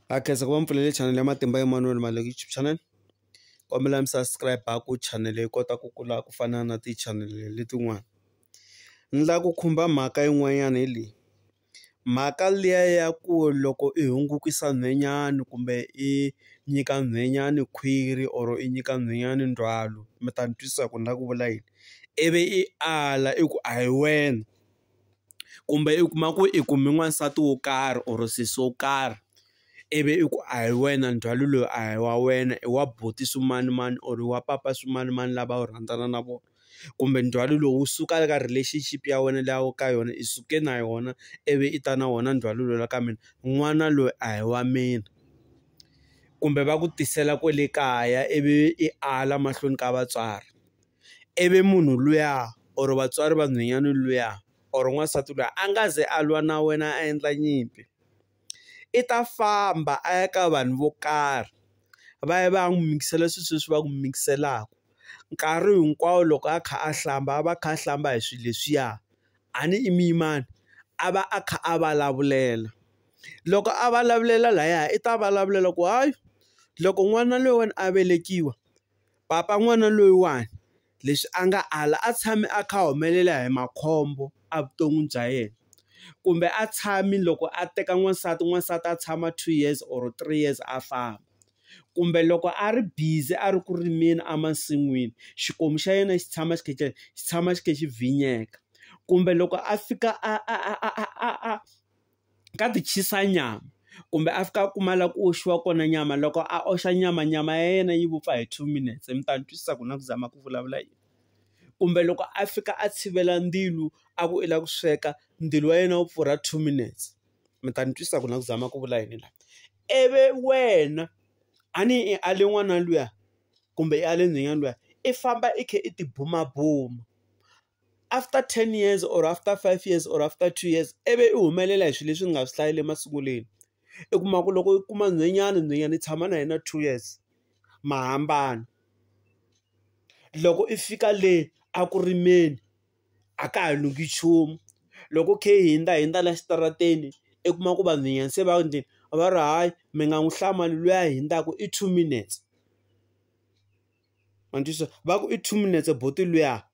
ha khensa ku va mi pfulele chanele ya Matimba Emmanuel Maluleke YouTube channel kombela mi subscribe ku chanele yi kota ku kula ku fana na tichanele letin'wana ni la ku khumba mhaka yin'wanyana hi leyi mhaka liya ya ku loko i hungukisa nhwenyana kumbe i nyika nhwenyana khwiri or i nyika nhwenyana ndzhwalo mi ta ni twisisa ku ni la ku vula yini ivi i ala i ku a hi wena. kumbe u kuma ku i kume n'wansati wo karhi or sesi wo karhi ivi i ku a hi wena ndzhwalo lowu a hi wa wena i wa buti swimanimani or wa papa swimanimani lava u rhandzana na vona kumbe ndzhwalo lowu wu suka eka relationship ya wena leyi a wu ka yona i suke na yona ivi i ta na wona ndzhwalo lowu la ka mina n'wana loyi a hi wa mina kumbe va ku tisela kwale kaya ivi i ala mahlweni ka vatswari. ivi munhu luya or vatswari va nhwenyana luya or n'wansati luya a nga ze a lwa na wena a endla nyimpi i ta famba a ya ka vanhu vo karhi va ya va ya n'wi mikisela swilo sweswi va ku mikiselaka nkarhi hinkwawo loko a kha a hlamba a va kha a hlamba hi swilo leswiya a ni i muyimana a va a kha a vulavulela loko a vulavulela laya i ta vulavulela ku hayi loko n'wana loyi wena a velekiwa Papa n'wana loyiwani leswi a nga ala a tshame a kha a humelela hi makhombo evuton'wini bya yena kumbe a tshami loko a teka n'wansati n'wansati a tshama two years or three years a famba kumbe loko a ri busy a ri ku rimeni emasin'wini xikomu xa yena xi tshama xi khe xi tshama xi khe xi bvinyeka kumbe loko a fika a a a a a a. ka ti chisa nyama kumbe a fika a kuma la ku oxiwa kona nyama loko a oxa nyama nyama ya yena yi vupfa hi two minutes mi ta ni twisisa ku na ku zama ku vulavula yini kumbe loko a fika a tshivela ndzilo a ku i la ku sweka ndzilo wa yena wu pfurha two minutes mi ta ni twisisa ku na ku zama ku vula yini la ivi wena a ni i ale n'wana luya kumbe i ale nhwanyana luya i famba i kha i tibumabuma after ten years or after five years or after two years i vi i humelela hi swilo leswi ni nga swi hlayile masungulweni. I kuma ku loko i kuma nhwenyana, nhwenyana i tshama na yena two years, ma hambana. Loko i fika le eku rimeni, a ka ha lungi nchumu. Loko u kha i hundza hundza laha xitarateni, i kuma ku vanhwanyana se va njhe, va ri hayi mi nga n'wi hlamali luya a hundzaka i two minutes. Ma ni twisisa? Va ku i two minutes buti luya.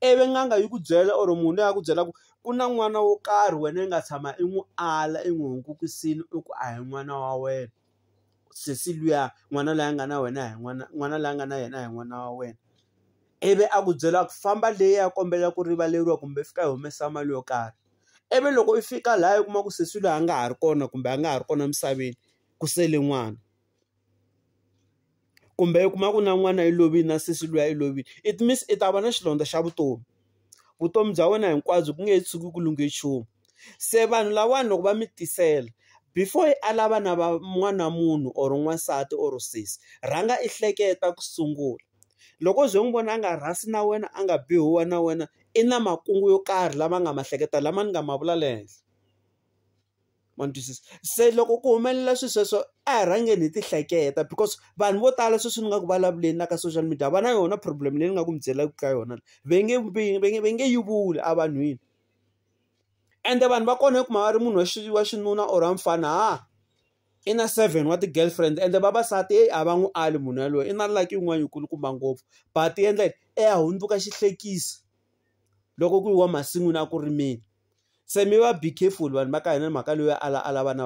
ivi n'anga yi ku byela or munhu loyi a ku byela ku ku na n'wana wo karhi wena i nga tshama i n'wi ala i n'wi hungukisile i ku a hi n'wana wa wena sesi luya n'wana loyi a nga na wena a hi n'wana n'wana loyi a nga na yena a hi n'wana wa wena ivi a ku byela ku famba leyi ya kombela ku rivaleriwa kumbe fika hi humesa mali yo karhi ivi loko i fika laha i kuma ku sesi loyi a nga ha ri kona kumbe a nga ha ri kona emisaveni ku sele n'wana kumbe u kuma ku na n'wana i lovile na sesi luya i lovile it means i ta va na xilondza xa vutomi vutomi bya wena hinkwabyo ku nge he tshuki ku lunghe nchumu se vanhu lavawani loko va mi tisela before i ala vana va n'wana munhu or n'wansati or sesi rhanga i hleketa ku sungula loko u ze n'wi vona a nga rhasi na wena a nga bihi huwa na wena i na makungu yo karhi lama nga ma hleketa lama ni nga ma vula le henhla. ma ni twisisa se loko ku humelela swilo sweswo a hi rhangeni hi ti hleketa because vanhu vo tala sweswi ni nga ku vulavuleni na ka social media va na yona problem leyi ni nga ku mi byelaka ka yona va nge va nge va nge yi vuli evanhwini ende vanhu va kona i kuma a ri munhu wa xi wa xinuna or wa mfana ha i na seven wa ti-girlfriend ende vavasati heyi a va n'wi ali munhu yaloye i na lucky yin'wana yi kulukumba ngopfu but yi endla yini i ya hundzuka xihlekisa. loko ku yiwa masin'wini a ku rimiwa se mi va be careful vanhu va ka hina mhaka leyi a lava a lava na.